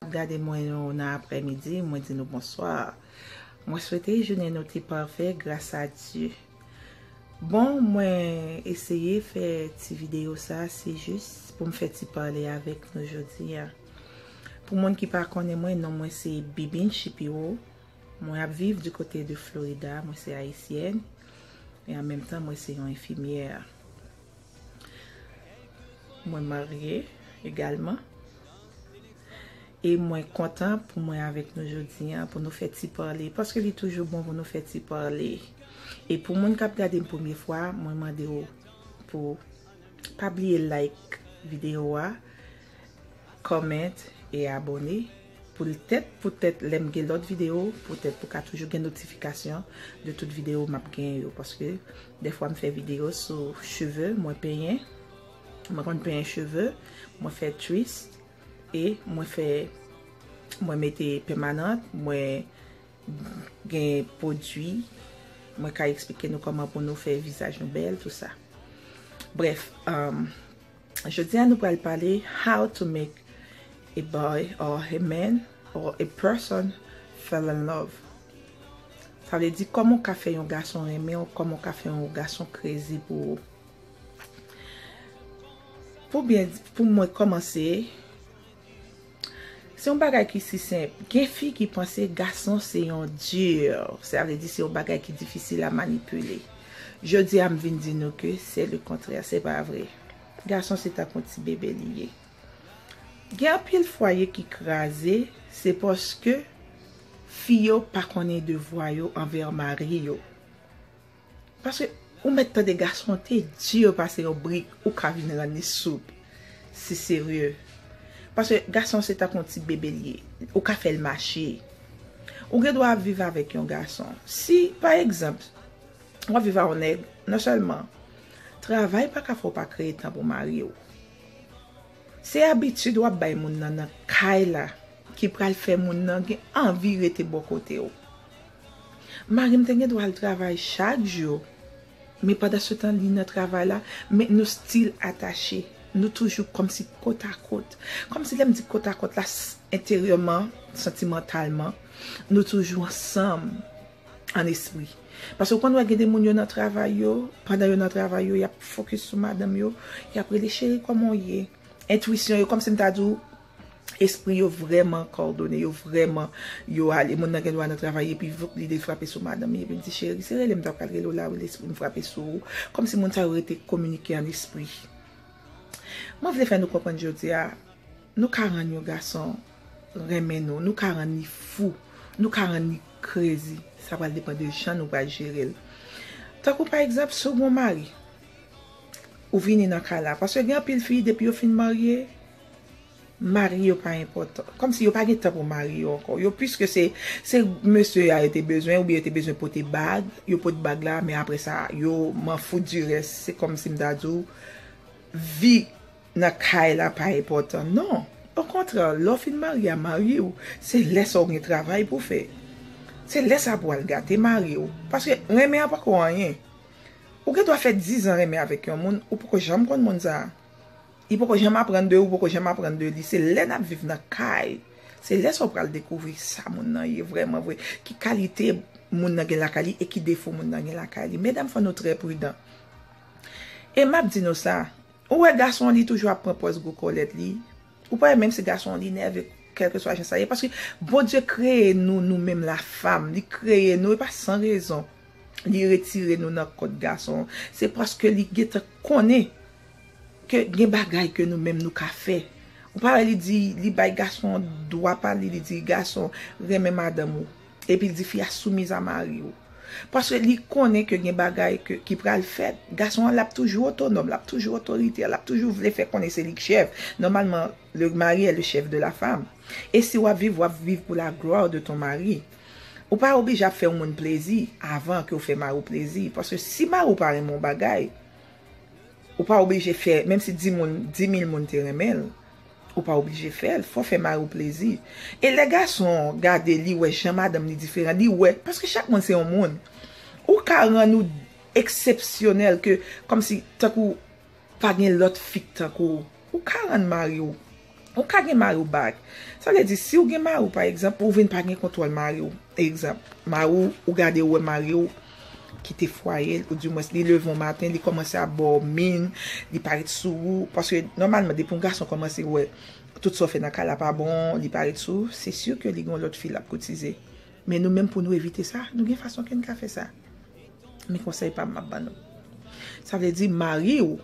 Kap gade mwen yo nan aprè midi mwen di nou bonsoir mwen swete jounen nou te pafè gras a Dye bon mwen eseye fè ti video sa se jis poum fè ti pale avèk nou jodi a pou moun ki pa konnen mwen non mwen se Bibin Shipiro mwen ap viv di kote de Florida mwen se ayisyèn e an menm tan mwen se yon enfimyè. Mwen marye egalman. E mwen kontan pou mwen avèk nou jodi an pou nou fè ti pale. Paske li toujou bon pou nou fè ti pale. E pou moun kap gade m premye fwa, mwen mande ou pou pa bliye like videyo a. comment e abone pou l tèt pou tèt lèm gen lòt video pou tèt pou ka toujou gen notification de tout video map gen yo paske dèfwa m fè video sou cheve mwen penyen mwen konn penyen cheve mwen fè twist e mwen fè mwen mete pèmanant mwen gen pwodwi mwen ka eksplike nou kòman pou nou fè vizaj nou bèl tout sa brèf Jodi a nou pral pale how to make a boy or a man or a person fell in love. Sa vle di kòman w ka fè yon gason renmen w, kòman w ka fè yon gason kreze pou ou. Pou byen pou mwen kòmanse. Se yon bagay ki si senp. Gen fi ki panse gason se yon dur. Sa vle di se yon bagay ki difisil a manipile. Jodi a m vin di nou ke se le kontrè. Se pa vre. Gason se tankou yon ti bebe li ye. Gen anpil fwaye ki kraze, se paske fi yo pa konnen devwa yo anvè mari yo. Paske ou mèt tande gason an te dur pase yon brik ou ka vin rann li soup si serye paske gason an se tankou yon ti bebe li ye ou ka fèl mache ou gen dwa ap viv avèk yon gason si pa egzanp wap viv a yon nèg non sèlman travay pa ka fè w pa kreye tan pou mari w se abitid wap bay moun nan nan kay la ki pral fè moun nan gen anvi rete bò kote w. Mari m te gen dwa al travay chak jou, men pandansetan li nan travay la, men nou stil atache. Nou toujou kòmsi kotakòt. Kòmsi lè m di kotakòt la, s, enteryèman, santimantalman, nou toujou ansanm ann espri. Paske w konn wè gen de moun yo nan travay yo, pandan yo nan travay yo, y ap fokis sou madanm yo, y ap rele cheri kòman w ye? Entwisyon yo, kòmsi m ta di w, espri yo vrèman kòdone, yo vrèman, yo ale. Moun nan gen dwa nan travay epi voup lide l frape sou madanm li epi l di, cheri, se rele m ta pral rele w la wi lespri m frape sou ou. Kòmsi moun sa yo rete kominike an espri. Mwen vle fè nou konprann jodi a, nou ka rann yon gason renmen nou, nou ka rann li fou, nou ka rann li krezi, sa pral depan de jan nou pral jere l. Tankou pa egzanp, si w gen yon mari, ou vini nan kay la paske gen anpil fi depi yo fin marye mari yo pa enpòtan kòmsi yo pa gen tan pou mari yo ankò yo piske se se mesye a yo te bezwen oubyen yo te bezwen pote bag yo pot bag la men aprè sa yo m'en fout di rès se kòmsi m ta di w vi nan kay la pa enpòtan non okontrè lè w fin marye a mari w se lè sa w gen travay pou fè se lè sa pou w al gate mari w paske renmen an pako anyen Ou gen dwa fè dizan renmen avèk yon moun, ou poko janm konn moun sa a. Li poko janm aprann de ou, ou poko janm aprann de li. Se lè n ap viv nan kay, se lè sa ou pral dekouvri sa moun nan ye vrèman vre, ki kalite moun nan gen lakay li e ki defo moun nan gen lakay li. Medam fò nou trè pridan. E m ap di nou sa, ou wè gason an li toujou ap pran pòz gwo kòlèt li. Ou pa wè menm si gason an li nève kèlkeswa jan sa ye paske Bondye kreye nou nou menm lafam li kreye nou e pa san rezon li retire nou nan kòt gason se paske li gentan konnen ke gen bagay ke nou menm nou ka fè ou pa wè li di li bay gason dwa pa li li di gason renmen madanm ou. Epi l di fi a soumiz a mari ou. Paske li konnen ke gen bagay ki pral fèt. Gason an l ap toujou otonòm, l ap toujou otoritè, l ap toujou vle fè konnen se li k chèf. Nòmalman, le mari è le chèf de la fam. E si w ap viv, w ap viv pou la glwa de ton mari. Ou pa oblije ap fè yon moun plezi avan ke w fè mari w plezi. Paske si mari w pa renmen yon bagay, ou pa oblije fè, menm si di moun, di mil moun te renmen l, Ou pa oblije fèl, fò fè mariw plezi. E lè gason gade li wè jan madanm li diferan, li wè, paske chak moun se yon moun. Ou ka rann ou eksepsyonèl ke kòmsi tankou pa gen lòt fi k tankou w. Ou ka rann mariw, ou ka gen mariw back. Sa vle di siw gen mariw pa egzanp, ou vin pa gen kontwòl mariw. Egzanp, mariw ou gade ou wè mariw. kite fwaye l ou di mwens li leve yon maten li kòmanse ap ba w min li pa ret sou ou paske nòmalman depi yon gason kòmanse wè tout sa w fè nan kay la pa bon li pa ret sou ou se si ke li gen yon lòt fi l ap koutize men nou menm pou nou evite sa nou gen fason ke n ka fè sa men konsèy pa m m ap ban nou sa vle di mari w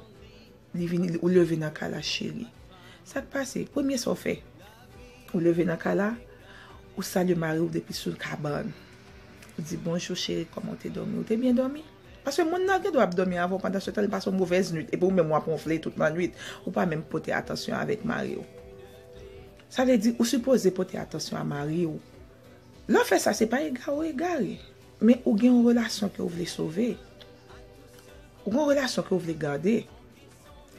Li vini li ou leve nan kay la cheri. Sak pase? Premye sa w fè? Ou leve nan kay la, ou salye mari w depi sou kabann. Ou di bonjou cheri kòman w te dòmi? Ou te byen dòmi? Paske moun nan gendwa ap dòmi avè w pandan se tan li pase yon movèz nwit epi ou menm wap wonfle tout lannwit, ou pa menm pote atansyon avèk mari w. Sa vle di ou sipoze pote atansyon a mari w. Lè w fè sa se pa egare w egare. Men ou gen yon relasyon ke ou vle sove. Ou gen yon relasyon ke ou vle gade.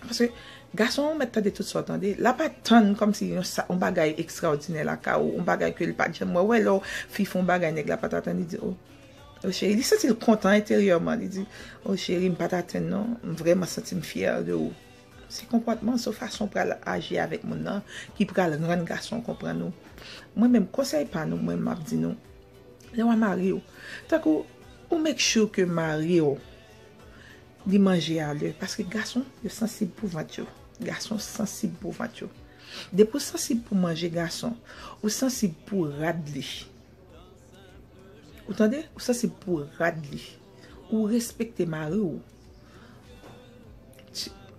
Paske, gason an ou mèt tande tout sa ou tande. La pa tann kòm si yon sa, yon bagay ekstraòdinè lakay ou, yon bagay ke li pa t janm wè. Ou wè lè yon fi fè yon bagay nèg la pa t atann, li di, oh, oh cheri. Li santi l kontan enteryèman. Li di, oh cheri, m pa t atann non. M vrèman santi m fyè de ou. Se konpòtman, se fason ou pral aji avèk moun nan ki pral rann gason an konprann ou. Mwen menm, konsèy pa nou, mwen m ap di nou. Lè wap marye w tankou ou make sure ke mari w li manje a lè paske gason yo sansib pou vant yo gason sansib pou vant yo depi w sansib pou manje gason ou sansib pou rad li ou tande ou sansib pou rad li ou respekte mari w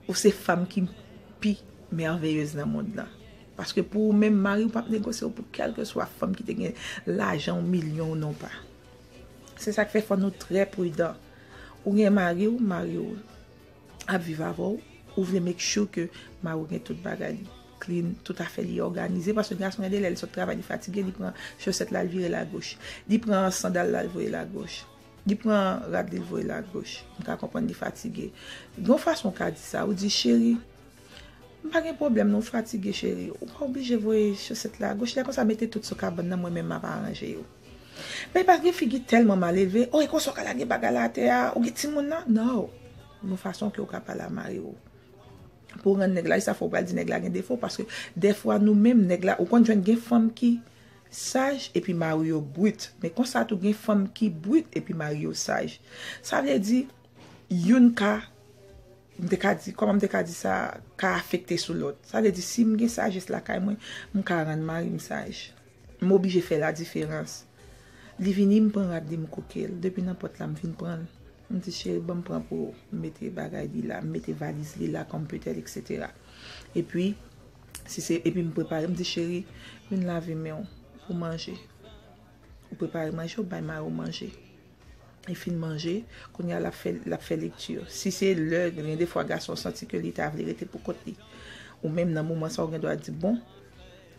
ou se fanm ki pi merveilleuse nan mond lan. Paske pou ou menm mariw pap negosyew pou kelkeswa fanm ki te gen lajan ou milyon ou non pa. Se sak fè fò nou trè pridan. Ou gen mariw, mariw ap viv avèw, ou vle make sure ke mariw gen tout bagay li clean, tout afè li òganize paske gason gen de lè li sot travay li fatige li pran chosèt la li vire l a goch, li pran sandal la li voye l a goch, li pran rad li l voye l a goch, m ka konprann li fatige. Gon fason ou ka di sa, ou di cheri M pa gen pwoblèm non fatige cheri ou pa oblije voye chosèt la agoch lè konsa mete tout sou kabann nan mwen menm map aranje yo men pa gen figi tèlman malelve oh e konsa ou ka lage bagay la atè a ou gen timoun nan no gon fason ke ou ka pale a mari ou pou rann nèg la e sa fè ou pral di nèg la gen defo paske dèfwa nou menm nèg la ou konn jwenn gen fanm ki saj epi mari yo brit men konsa tou gen fanm ki brit epi mari yo saj sa vle di youn ka. M te ka di, kòman m te ka di sa ka afekte sou lòt? Sa vle di si m gen sajès lakay mwen, m ka rann mari m saj. M oblije fè ladiferans. Li vini, m pran rad li, m kouke l. Depi nan pòt la, m vin pran l. M di, cheri ban m pran pou ou. M mete bagay li la, m mete valiz li la, kòm petèt eksetera. Epi, si se, epi m prepare, m di, cheri, vin lave men w pou manje. Ou prepare manje, ou bay Maro manje. Li fin manje, kounye a l ap fè, l ap fè lekti. Si se lè, gen de fwa gason santi ke li ta vle rete pou kont li. Ou menm nan moman sa ou gen dwa di, bon,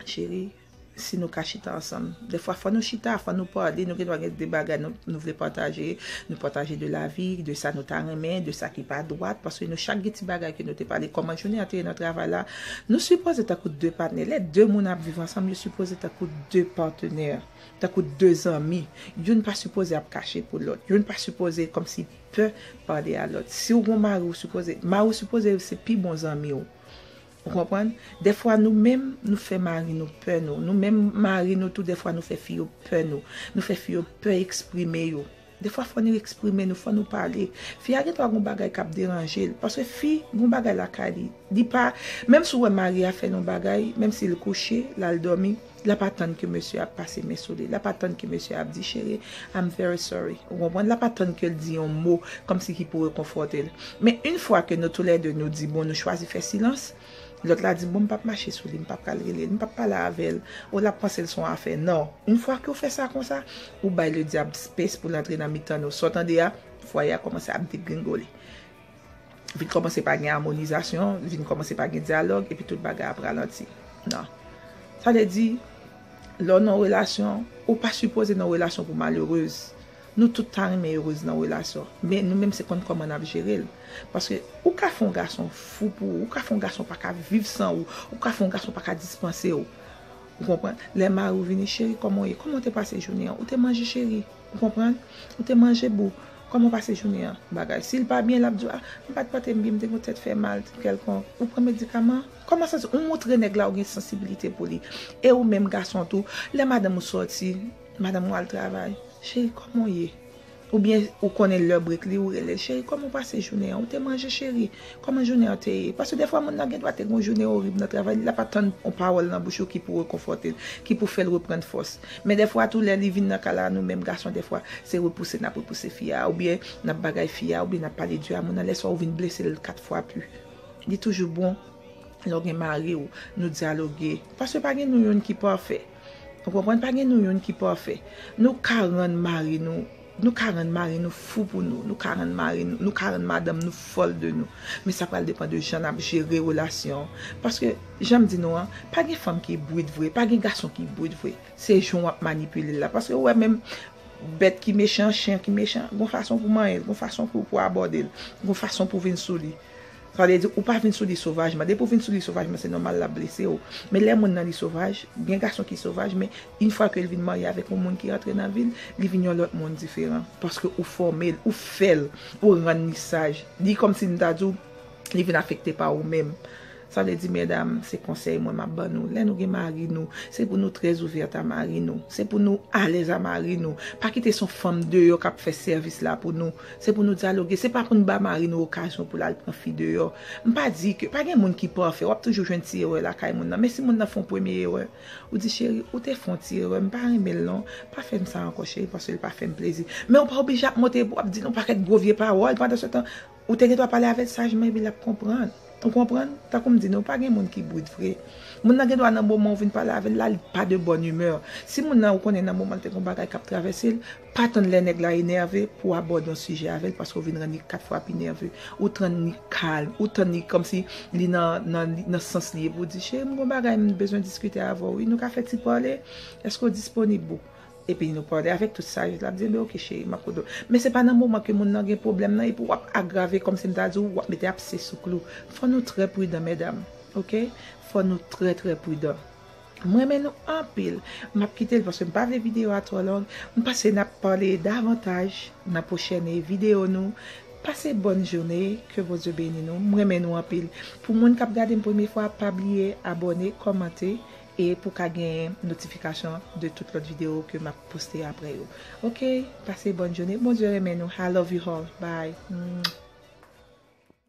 cheri, si nou ka chita ansanm. De fwa fò nou chita, fò nou pale, nou gen dwa gen de bagay nou vle pataje. Nou pataje de lavi, de sa nou ta renmen, de sa ki pa dwat. Paske nou chak gen ti bagay ke nou te pale. Kòman jounen an te ye nan travay la? Nou sipoze tankou de patnè. Lè de moun ap viv ansanm, yo sipoze tankou de patenè, tankou de zanmi. Youn pa sipoze ap kache pou lòt. Youn pa sipoze kòmsi pè pale a lòt. Si ou gen yon mari, ou sipoze, mari ou sipoze se pi bon zanmi ou. Ou konprann? Dèfwa nou menm, nou fè mari nou pè nou. Nou menm mari nou tou dèfwa nou fè fi yo pè nou. Nou fè fi yo pè eksprime yo. Defwa fò nou eksprime nou, fò nou pale. Fi a gendwa gon bagay kap deranje l. Paske fi gon bagay lakay li. Li pa, menm si w wè mari a fè l yon bagay, menm si l kouche, l al dòmi, l ap atann ke mesye a ap pase men sou li. L ap atann ke mesye a ap di cheri, I'm very sorry. Ou konprann? L ap atann ke l di yon mo kòmsi ki pou rekonfòte l. Men, in fwa ke nou tou lè de nou di bon nou chwazi fè silans, Lòt la di, bon m pap mache sou li, m pap pral rele l, m pap pale avè l, o l ap panse l s on afè. Non, yn fwa ke w fè sa konsa, ou bay le dyab space pou l antre nan mitan nou. Sa w tande a, fwaye a kòmanse ap degringole. Vin kòmanse pa gen amonizasyon, vin kòmanse pa gen dyalòg, epi tout bagay ap ralanti. Non. Sa vle di, lè w nan relasyon, ou pa sipoze nan relasyon pou w malerez. Nou tout ta renmen heureuse nan relasyon men nou menm se konn kòman nap jerel paske ou ka fè yon gason fou pou ou ou ka fè yon gason paka viv san ou ou ka fè yon gason paka dispansew ou konprann lè mariw vini cheri kòman ou ye kòman ou te pase jounen an ou te manje cheri ou konprann ou te manje boo kòman ou pase jounen an bagay sil pa byen lap diw a m pat pante m byen m te gen yon tèt fè mal kèlkonk ou pran medikaman kòman sa se ou montre nèg la ou gen sansibilite pou li e ou menm gason tou lè madanm ou sòti. Madanm ou al travay. Cheri kòman w ye? Oubyen ou konnen lè brek li ou rele l, cheri kòman w pase jounen an? Ou te manje cheri? Kòman jounen an te ye? Paske defwa moun nan gendwa te gen yon jounen orib nan travay li, l ap atann yon pawòl nan bouch ou ki pou rekonfòte l, ki pou fè l reprann fòs. Men defwa tou lè li vin nan kay la nou menm gason defwa se repouse n ap repouse fi a oubyen n ap bagay fi a oubyen n ap pale di a moun nan lè sa ou vin blese l kat fwa pu. Li toujou bon lè w gen mari w nou dyaloge paske pa gen nou youn ki pafè. Ou konprann pa gen nou youn ki pafè. Nou ka rann mari nou, nou ka rann mari nou fou pou nou, nou ka rann mari nou, nou ka rann madanm nou fòl de nou. Men sa pral depan de jan n ap jere relasyon an. Paske, jan m di nou an, pa gen fanm ki brit vre, pa gen gason ki brit vre. Se jan w ap manipile l la. Paske ou wè menm bèt ki mechan, chen ki mechan, gen yon fason pou w manyen l, gen yon fason pou w abòde l, gen yon fason pou w vin sou li. Sa vle di ou pa vin sou li sovajman. Depi ou vin sou li sovajman se nòmal l ap blese ou. Men lè moun nan li sovaj, gen gason ki sovaj men yn fwa ke l vin marye avèk yon moun ki rantre nan vi l, li vin yon lòt moun diferan. Paske ou fòme l, ou fè l, ou rann li saj. Li kòmsi m ta di w li vin afekte pa ou menm. Sa vle di medam, se konsèy mwen m ap ban nou, lè nou gen mari nou, se pou nou trè ouvèt a mari nou. Se pou nou alèz a mari nou. Pa kite se yon fanm deyò k ap fè sèvis la pou nou. Se pou nou dyaloge. Se pa pou n ba mari nou okazyon pou l al pran fi deyò. M pa di ke pa gen moun ki pafè. W ap toujou jwenn ti erè lakay moun nan. Men si moun nan fè yon premye erè, ou di, cheri, ou te fè yon ti erè. M pa renmen l non. Pa fè m sa ankò cheri paske l pa fè m plezi. Men ou pa oblije ap monte, w ap di l yon pakèt gwo vye pawòl. Pandansetan, ou te gen dwa pale avè l sajman epi l ap konprann. Ou konprann? Tankou m di nou, pa gen moun ki brit vre. Moun nan gen dwa nan moman ou vin pale avè l la, li pa de bòn imè. Si moun nan ou konnen nan moman l te gen yon bagay k ap travèse l, Pa tann lè nèg la enève pou w abòde yon sijè avè l paske w vin rann li kat fwa pi nève. Ou tann li kalm, ou tann li kòmsi li nan sans li epi w di, Cheri m gen yon bagay m bezwen diskite avè w wi, nou ka fè ti pale? Èske w disponib ou? Epi nou pale avèk tout sajès, l ap di, Enben oke cheri, m ap koute w. Men se pa nan moman ke moun nan gen pwoblèm nan epi w ap agrave kòmsi m ta di w, w ap mete apse sou klou. Fò nou trè pridan medam, oke, fò nou trè trè pridan. M renmen nou anpil. M ap kite l paske m pa vle videyo a twò long. M panse n ap pale davantaj nan pwochèn videyo nou. Pase bòn joune. Ke Bondye beni nou. M renmen nou anpil. Pou moun k ap gade m premye fwa, pa bliye abòne, kòmante e pou w ka gen notifikasyon de tout lòt videyo ke m ap poste aprè yo. Oke, pase bòn joune. Bondye renmen nou. I love you all. Bye.